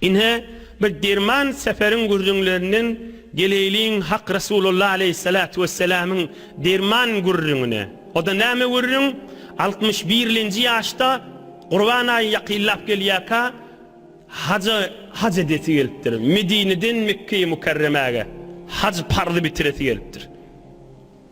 Ine, bir derman Seferiň gürrüňlerinden geleýliň Hak Resulullah aleýhissalatu wessalamyň derman gürrüňine. O-da näme gürrüň? Altmyş birlenji ýaşda, Gurban aýy ýakynlap gelýärka, haja haj edesi gelipdir. Medineden Mekgeýi Mükerremäge haj parzy bitiresi gelipdir.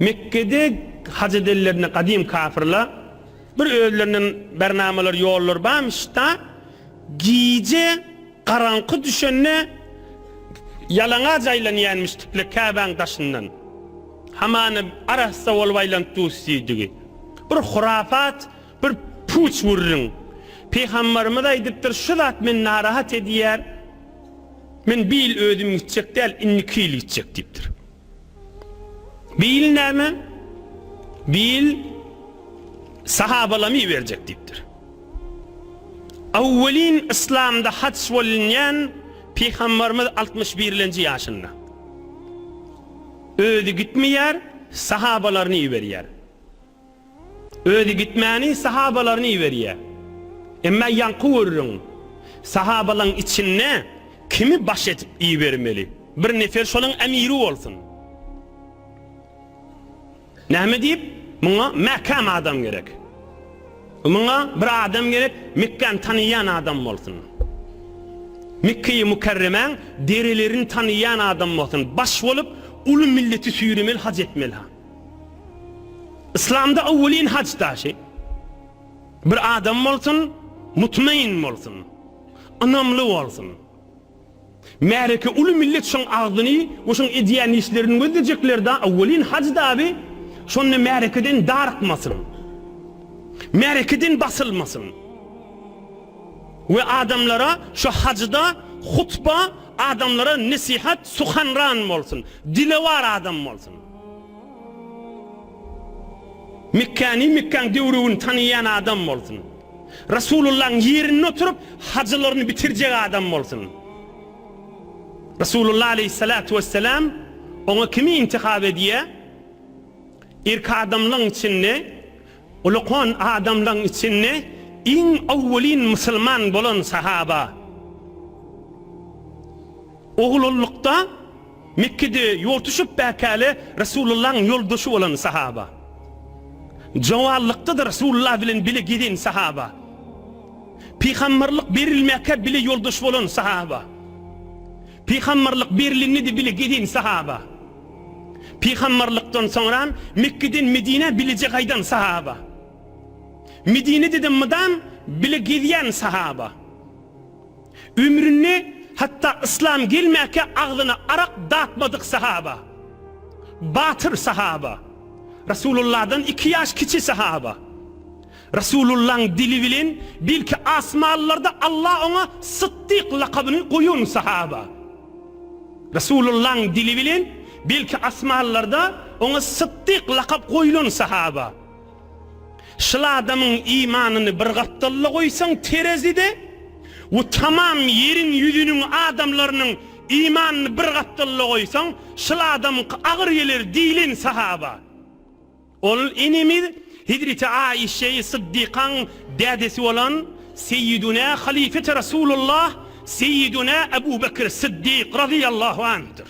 Mekgede haj edenlerinde gadym kapyrla bir özlerinden bernamalar ýollar barmyşda gije garaňky düşende ýalaňac aýlanýanmyşdikle Käbäň daşyndan. Hamana arassa bolup aýlanyp dusdigi bir hurafat Bir puç wurryň. Pygambarymyz aýdypdyr şu zat meni narahat edýär. Men bir ýyl özüm gitjek däl indi iki ýyl gitjek diýipdir. Bir ýyl näme? Bir ýyl sahabalamy iberjek diýipdir. Awwelin yslamda haç bolunýan pygambarymyz altmyş birlenji ýaşynda. Özi gitmeýär, sahabalaryny iberýär. Özi gitmäni sahabalaryny iberýär. Emma ýaňky görüriň, sahabalaň içinde kimi baş edip ibermeli? Bir nefer şolaň emiri bolsun. Näme diýip, muňa mäkäm adam gerek. Muňa bir adam gerek, Mekgäni tanaýan adam bolsun. Mekgeýi Mukarremäň derelerini tanaýan adam bolsun. Baş bolup, uly milleti süýremeli, haj etmeli. Yslamda owwelin haj daşy bir adam bolsun, mutmain bolsun, ynamly bolsun. Märeke uly millet şoň agzyny we şoň edýän işlerini gözlejeklerda owwelin haj daby şonda märekeden darykmasyn. Märekeden basylmasyn. We adamlara şu hajda hutba adamlara nesihat suhanran bolsun, dilewar adam bolsun. Mekgäni Mekgaň döwrügini tanaýan adam bolsun. Rasulullahyň ýerinde oturyp hajylaryny bitirjek adam bolsun. Rasulullah aleýhissalatu wessalam oňa kimi intihap edýär? Irki adamlaň içinde, ulukon adamlaň içinde iň owwelin musulman bolan sahaba. Oglullykda Mekgede ýortuşyp bäkäle Resulullahyň ýoldaşy bolan sahaba. Jowallykda-da Resulullah bilen bile gezen sahaba. Pygamberlik berilmäkä bile ýoldaş bolan sahaba. Pygamberlik berilende-de bile gezen sahaba. Pygamberlikden soňram Mekgeden Medinä bileje gaýdan sahaba. Medinede-de mydam bile gezýän sahaba. Ömründe hatda yslam gelmäkä agzyna arak datmadyk sahaba, batyr sahaba, Rasulullahdan iki ýaş kiçi sahaba. Rasulullahyň dili bilen belki asmanlarda Allah oňa Sytdyk lakabyny goýan sahaba. Rasulullahyň dili bilen belki asmanlarda oňa Sytdyk lakap goýulan sahaba. Şul adamyň imanyny bir gapdalda goýsaň terezide we tamam ýeriň ýüzüniň adamlarynyň imanyny bir gapdalda goýsaň şul adamyňky agyr geler diýlen sahaba. Ol enemiz Hezreti Aişeýi Syddykaň dädesi bolan Seýidunä Halifeti Rasulullah Seýidunä Ebu Bekir Syddyk razyýallahu anhdyr.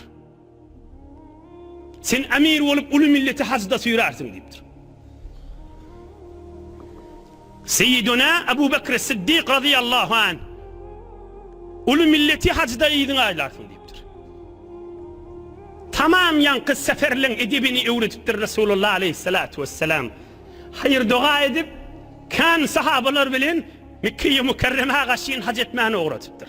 Sen emir bolup uly milleti hajda süýrärsiň diýipdir. Seýidunä Abu Bekr Siddik razyýallahu anh uly milleti hajda yzyňa aýlarsyň diýipdir. Tamam ýaňky seferleň edebini öwredipdir Resulullah aleýhissalatu wessalam. Haýyr doga edip, kän sahabalar bilen Mekgeýi Mükerremä gaşyn haj etmäne ugradypdyr.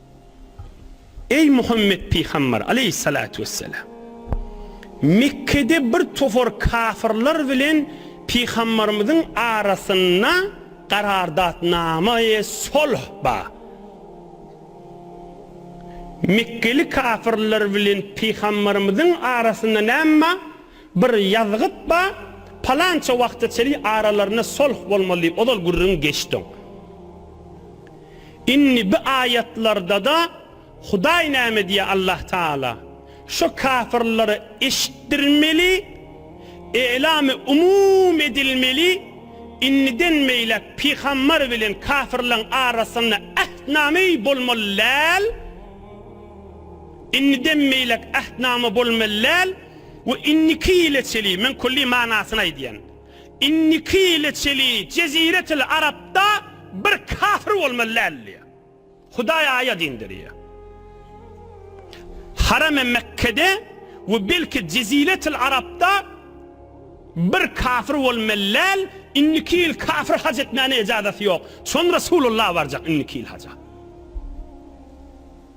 Eý Muhammet pygamber aleýhissalatu wesselam! Mekgede bir topar kafyrlar bilen pygamberimiziň arasynda garardatnama-e solh bar. Mekgeli kafyrlar bilen pygamberimiziň arasynda näme bar? Bir ýazgyt bar, palança wagta çeli aralarynda solh bolmaly diýip ozal gürrüň geçdiň. Indi bi aýatlarda-da Hudaý näme diýýär Allah Taala? Şo kafirlere eşitdirmeli, e'lamy umum edilmeli, indiden beýläk pygambar bilen kafirleň arasynda ähtname bolmaly däl, indiden beýläk ähtname bolmaly däl, We indiki ýyla çeli, men külli manysyny aýdýan, indiki ýyla çeli jeziretil arapda bir kafir bolmaly däl diýýär. Hudaý aýat indirýär. Haramy Mekgede we belki jeziretil arapda bir kafir bolmaly däl, indiki ýyl kafir haj etmäne ejazaty ýok. Çon Resulullah barjak indiki ýyl haja.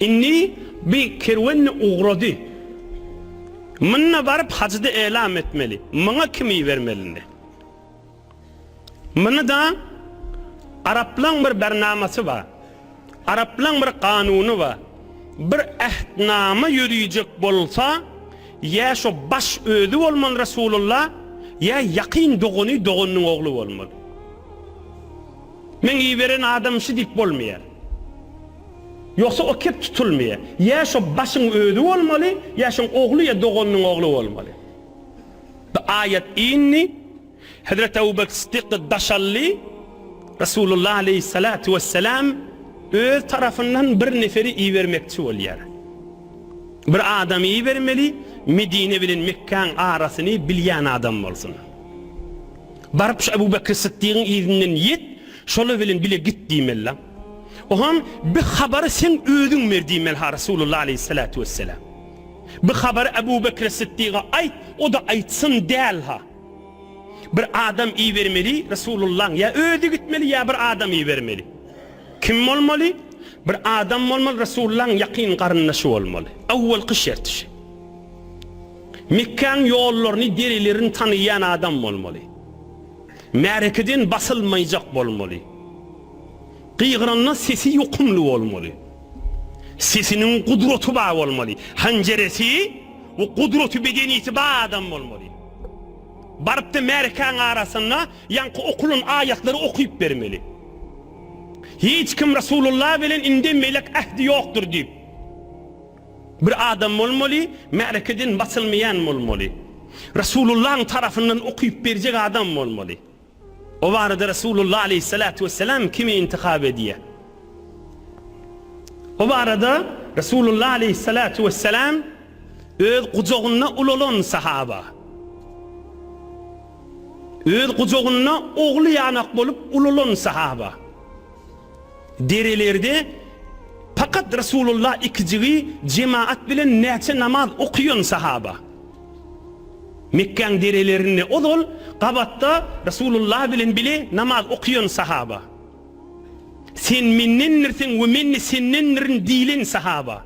Indi bi kerwenni ugrady. Mynna baryp hajyda elam etmeli. Myňa kim ibermelindi? Mynyda araplaň bir bernamasy bar. Araplaň bir kanuny bar. Bir ähtnama ýöriýjek bolsa, ýa şo baş özi bolmaly Resulullah, ýa ýakyn dogany dogannyň ogly bolmaly. Meň iberen adamym şi diýip bolmaýa. Ýogsa o kep tutulmaýa. Ýa şo başyň özi bolmaly, ýa şoň ogly ýa doganynyň ogly bolmaly. Bu aýat indi, Hezreti Abu Bekr Siddiky daşaldy, Resulullah aleýhissalatu wesselam öz tarapyndan bir neferi ibermekçi bolýar. Bir adamy ibermeli, Medine bilen Mekkäň arasyny bilýän adam bolsun. Baryp şu Ebu Bekri Syddygyň yzyndan ýet, şolar bilen bile git diýmeli-la. Oňam, Bi habary sen özüň ber diýmeli-ha Resulullah aleýhissalatu wesselam. Bi habary Ebu Bekri Syddyga aýt, o-da aýtsyn däl-ha. Bir adam ibermeli Resulullaň, ýa özi gitmeli, ýa bir adam ibermeli. Kim bolmaly? Bir adam bolmaly Resulullaň ýakyn garyndaşy bolmaly. Awwalky şerti şu. Mekgäň ýollaryny, derelerini tanaýan adam bolmaly. Märekeden basylmaýjak bolmaly. Gygyranda sesi ýokumly bolmaly. Sesiniň gudraty bar bolmaly. Hanjeresi we gudraty bedenisi bar adam bolmaly. Barypda märekäň arasynda ýaňky okulan aýatlary okyp bermeli. Hiç kim Rasulullah bilen indi melek ähdi ýokdur diýip. Bir adam bolmaly, märekeden basylmaýan bolmaly. Rasulullahyň tarapyndan okyp berjek adam bolmaly. O barada Rasulullah aleýhissalatu wesselam kimi intihap edýär? O barada Rasulullah aleýhissalatu wesselam öz gujagynda ulalan sahaba, öz gujagynda ogly ýanak bolup ulalan sahaba, Derelerde pakat Resulullah ikijigi jemaat bilen näçe namaz okaýan sahaba? Mekgäň derelerinde ozal gabatda Resulullah bilen bile namaz okaýan sahaba? Sen mendendirsiň we men-de sendendirin diýlen sahaba?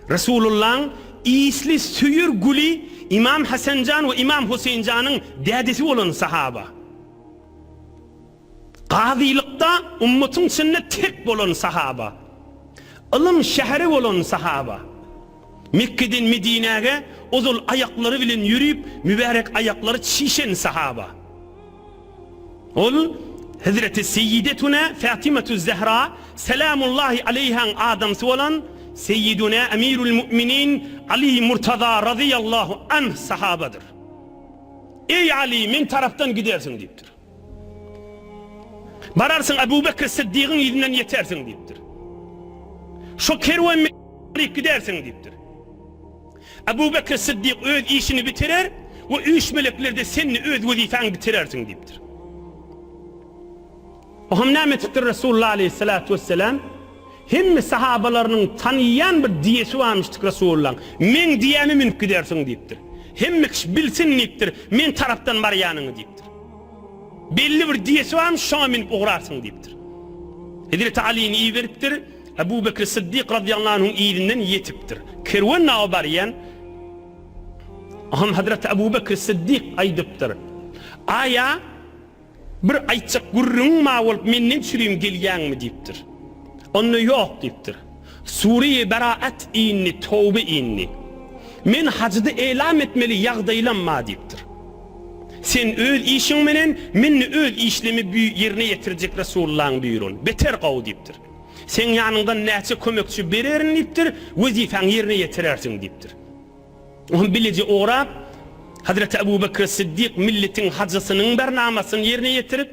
Resulullahyň isli süýr güli Imam Hasanjan we Imam Huseýnjanyň dädesi bolan sahaba? Gazylykda ümmatyň içinde tek bolan sahaba. Ylym şäheri bolan sahaba. Mekgeden Medinäge ozal aýaklary bilen ýörüp, mübärek aýaklary çişen sahaba. Ol Hezreti Seýidetuna Fatymatüz Zähra Salamullahi aleýhaň adamsy bolan Seýiduna Emirül Mu'minin Aly Murtaza Razyýallahu anh sahabadyr. Eý Aly, meň tarapdan gidersiň diýipdir. Bararsyň, Abu Bekri Syddygyň yzyndan ýetersiň diýipdir. Şo kerwen bilen gidersiň diýipdir. Abu Bekri Syddyk öz işini bitirer we üç meleklerde sen-de öz wezipäňi bitirersiň diýipdir. Oňam näme etipdir Resulullah aleýhissalatu wesselam? Hemme sahabalarynyň tanyýan bir diýesi barmyşdyk Resulullaň, Meň diýäme münüp gidersiň diýipdir. Hemme kişi bilsin diýipdir, men tarapdan barýanyňy diýipdir. Belli bir diýesi barmyş, şoňa münüp ugrarsyň diýipdir. Hezreti Alyny iberipdir, Ebu Bekri Syddyk radiyallahu anhuň yzyndan ýetipdir. Kerwen nawa barýan, Hom Hezreti Ebu Bekri Syddyk aýdypdyr, Aýa, Bir aýtjak gürrüňiň bar bolup menden çürim gelýäňmi? diýipdir. Onda ýok diýipdir. Sure-i Beraat indi, Töwbe indi. Men hajydy elam etmeli ýagdaýlam bar diýipdir. Sen öz işiň menen, men-de öz işlemi bü ýerine ýetirjek Resulullahyň büýrügini. Beter gowy diýipdir. Seň ýanyňdan näçe kömekçi bererin diýipdir, wezipäňi ýerine ýetirersiň diýipdir. Oňa bileje orap, Hazreti Abu Bekr-i Siddik milletiň hajysynyň bernamasyny ýerine ýetirip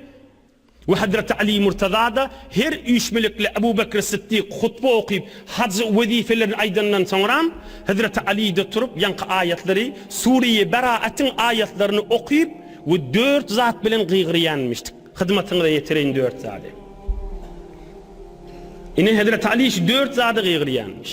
we Hazreti Ali Murtaza-da her üýşmeliklä Abu Bekr-i Siddik hutba okyp, hajy wezipelerini aýdandan soňra, Hazreti Ali-de turup ýaňky aýatlary, Sure-i Beraatiň aýatlaryny okyp we dört zat bilen gygyrýanmyşdyk. Hyzmatyňyza ýetireýin dört zady. Ine, Hazreti Ali şu dört zady gygyrýanmyş.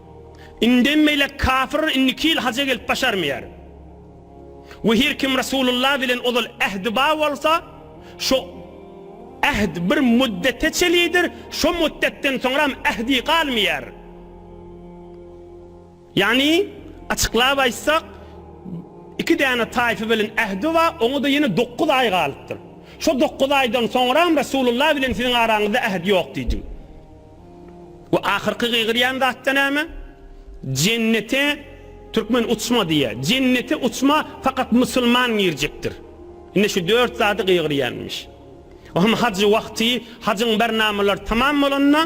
Indem beýläk kafir indiki ýyl haja gelip başarmaýar. We her kim Resulullah bilen ozal ähdi bar bolsa, şo äht bir müddete çelidir, şo müddetden soňram ähdi galmaýar. Ýagny, açyklap aýtsak, iki däne taýfa bilen ähdi bar, oňa-da ýene dokuz aý galypdyr. Şo dokuz aýdan soňram Resulullah bilen siziň araňyzda äht ýok diýdim. Bu ahyrky gygyrýan zatda näme? Jennete türkmen uçma diýýä. Jennete uçma fakat musulman girjekdir. Ine şu dört zady gygyrýanmyş. O hem hajy wagty hajyň barnamalary tamam bolanda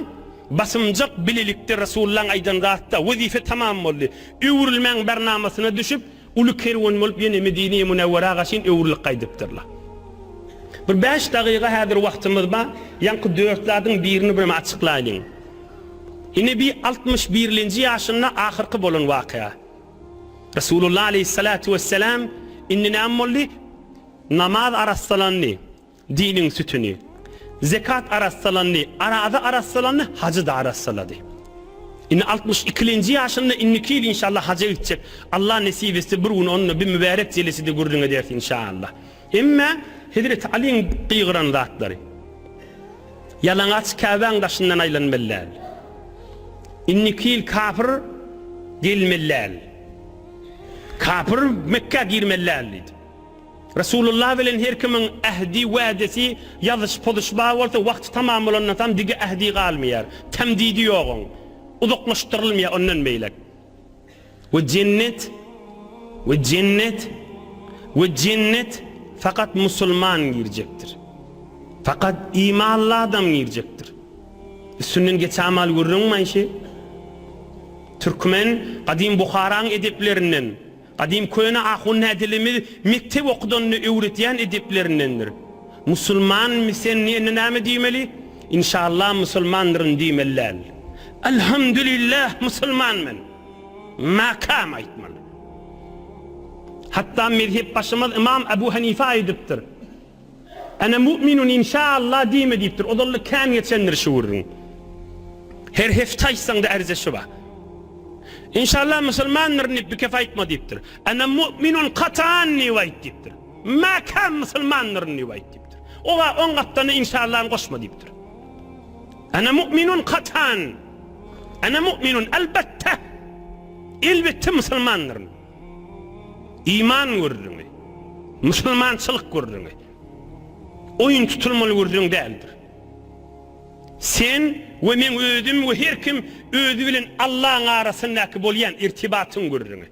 basymjak bilelikde Resulullaň aýdan zatda wezife tamam boldy. Öwrülmäň barnamasyna düşüp Uly kerwen bolup ýene Medine-i Munewweraga çyn öwrülip gaýdypdyrlar. Bir bäş dagyga häzir wagtymyz bar, ýaňky dört zadyň birini birem açyklaýlyň. Ine bi altmyş birlinji ýaşynda ahyrky bolan wakya. Resulullah aleýhissalatu wesselam indi näme boldy? Namaz arassalandy. Diniň sütüni. Zekat arassalandy, araza arassalandy, hajy-da arassalady. Indi altmyş ikilenji ýaşynda indiki ýyl inşallah haja gitjek. Alla nesip etse bir gün onda bir mübärek jelesede gürrüň ederis inşallah. Emmä Hezreti Alyň gygyran zatlary. Ýalaňaç Käbäň daşyndan aýlanmelläl. Indiki ýyl kapyr gelmelläl. Kapyr Mekgä girmelläl diýdi. Resulullah bilen her kimiň ähdi, wädesi, ýazyşy, pozuş bar bolsa, wagty tamam bolandan soň digi ähdi galmaýar. Tämdidi ýok oň. Uzaklaşdyrylmaýar ondan beýläk. We jennet, we jennet, we jennet fakat musulman girjekdir. Fakat imanly adam girjekdir. Üstünden geçamal gürrüň manşy. Türkmen gadym Buharaň edeplerinden. Gadym köne ahun nädilimiz mekdep okudanyny öwretýän edeplerindendir. Musulman misen indi näme diýmeli? Inşallah musulmandyryn diýmeli däl. Alhamdulillah musulman men. Makam aýtmaly. Hatda mezhepbaşymyz ymam Abu Hanifa aýdypdyr. Ana mu'minun inşaallah diýme diýipdir. Ozalda kän geçendir şu gürrüň. Her hepde aýtsaňda ärze şu bar. Inşaallah musulmandyryn diýip bikep aýtma diýipdir. Ana mu'minun katan diýip aýt diýipdir. Mäkäm musulmandyryn diýip aýt diýipdir. Oňa on gapdany inşaallany goşma diýipdir. Ana mu'minun katan. Ana mu'minun elbetde. Elbetde musulmandyryn. Iman gürrüňi, musulmançylyk gürrüňi oýun tutulmaly gürrüň däldir. Sen we meň özüm we her kim özi bilen Allaň arasyndaky bolýan irtibatyň gürrüňi.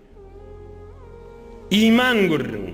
Iman gürrüňi.